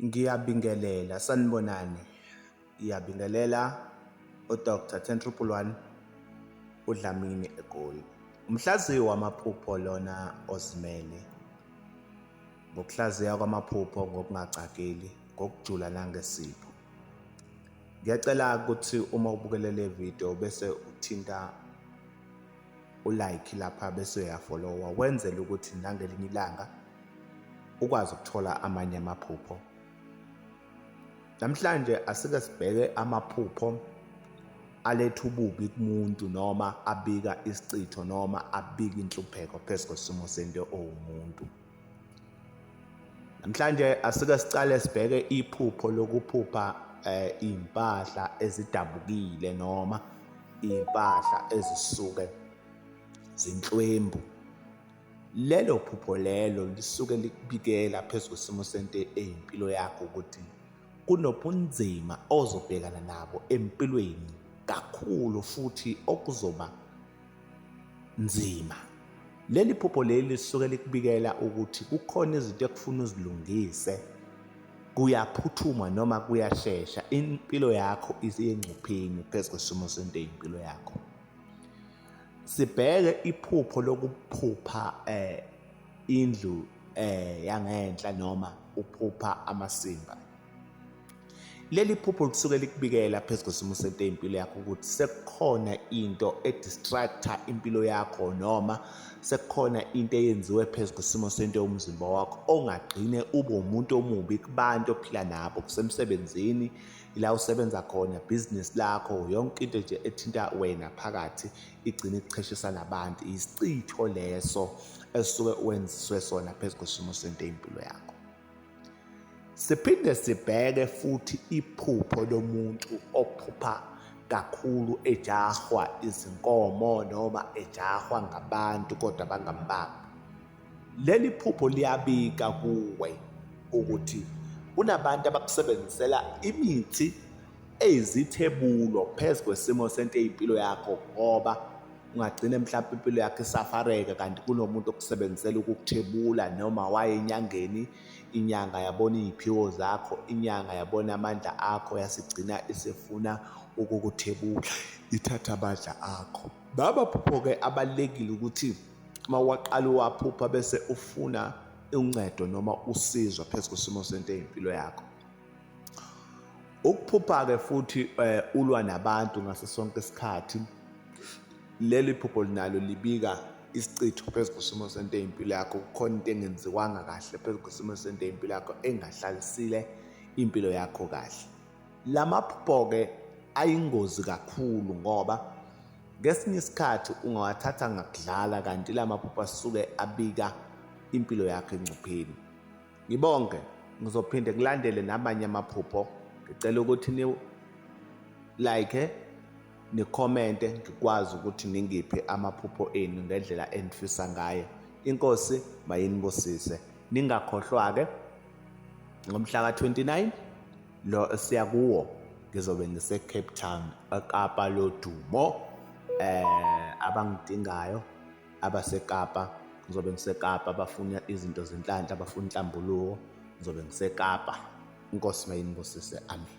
Ngiyabingelela, sanibonani. Ngiyabingelela uDr Tentriple One uDlamini eGoli. Umhlaziyi wamaphupho lona ozimele ngokuhlaziya kwamaphupho ngokungacakeli ngokujula nangesipho. Ngiyacela ukuthi uma ubukele le video bese uthinta ulike lapha bese uyafollowa wenzele ukuthi nangelinye ilanga ukwazi ukuthola amanye amaphupho. Namhlanje asike sibheke amaphupho aletha ububi kumuntu noma abika isichitho noma abika inhlupheko phezu kwesimo sento owumuntu. Namhlanje asike sicale sibheke iphupho lokuphupha eh, impahla ezidabukile noma impahla ezisuke zinhlwembu Lelo phupho lelo lisuke likubikela phezu kwesimo sento eyimpilo yakho ukuthi kunobunzima ozobhekana nabo empilweni kakhulu futhi okuzoba nzima. Leli phupho leli lisuke likubikela ukuthi kukhona izinto ekufuna uzilungise kuyaphuthuma noma kuyashesha impilo yakho isengcupheni phezu kwesimo sento eyimpilo yakho. Sibheke iphupho lokuphupha eh indlu eh yangenhla noma uphupha amasimba. Leli phupho lisuke likubikela phezu kwesimo sento impilo yakho ukuthi sekukhona into edistractor impilo yakho noma sekukhona into eyenziwe phezu kwesimo sento yomzimba wakho ongagcine ube umuntu omubi kubantu ophila nabo kusemsebenzini ila usebenza khona business lakho yonke into nje ethinta wena phakathi igcina ikucheshisa nabantu isichitho leso esuke wenziswe sona phezu kwesimo sento impilo yakho siphinde sibheke futhi iphupho lomuntu ophupha kakhulu ejahwa izinkomo noma ejahwa ngabantu kodwa bangambamba Leli phupho liyabika kuwe ukuthi kunabantu abakusebenzisela imithi eyizithebulo phezu kwesimo sento eyimpilo yakho ngoba ungagcina mhlawumbe impilo yakho isafareka kanti kunomuntu okusebenzisela ukukuthebula noma waye enyangeni inyanga yabona iy'phiwo zakho inyanga yabona amandla akho yasigcina isifuna ukukuthebula ithatha amandla akho baba phupho-ke abalulekile ukuthi uma waqala uwaphupha bese ufuna uncedo noma usizo phezu kwesimo sento eyimpilo yakho ukuphupha-ke futhi eh, ulwa nabantu ngaso sonke isikhathi leli phupho linalo libika isichitho phezu kwesimo sento eyimpilo yakho kukhona into engenziwanga kahle phezu kwesimo sento eyimpilo yakho engahlalisile impilo yakho kahle La maphupho-ke ayingozi kakhulu ngoba ngesinye isikhathi ungawathatha ngakudlala kanti la maphupho asuke abika impilo yakho engcupheni ngibonke ngizophinde kulandele namanye amaphupho ngicela ukuthi ni like nikhomente ngikwazi ukuthi ningiphe amaphupho enu ngendlela enifisa ngayo inkosi mayinibusise ningakhohlwa-ke ngomhla ka-29 lo siya kuwo ngizobe ngise-cape town ekapa lodumo eh abangidingayo abasekapa ngizobe ngisekapa abafuna izinto zenhlanhla abafuna inhlambuluko ngizobe ngisekapa inkosi mayinibusise amen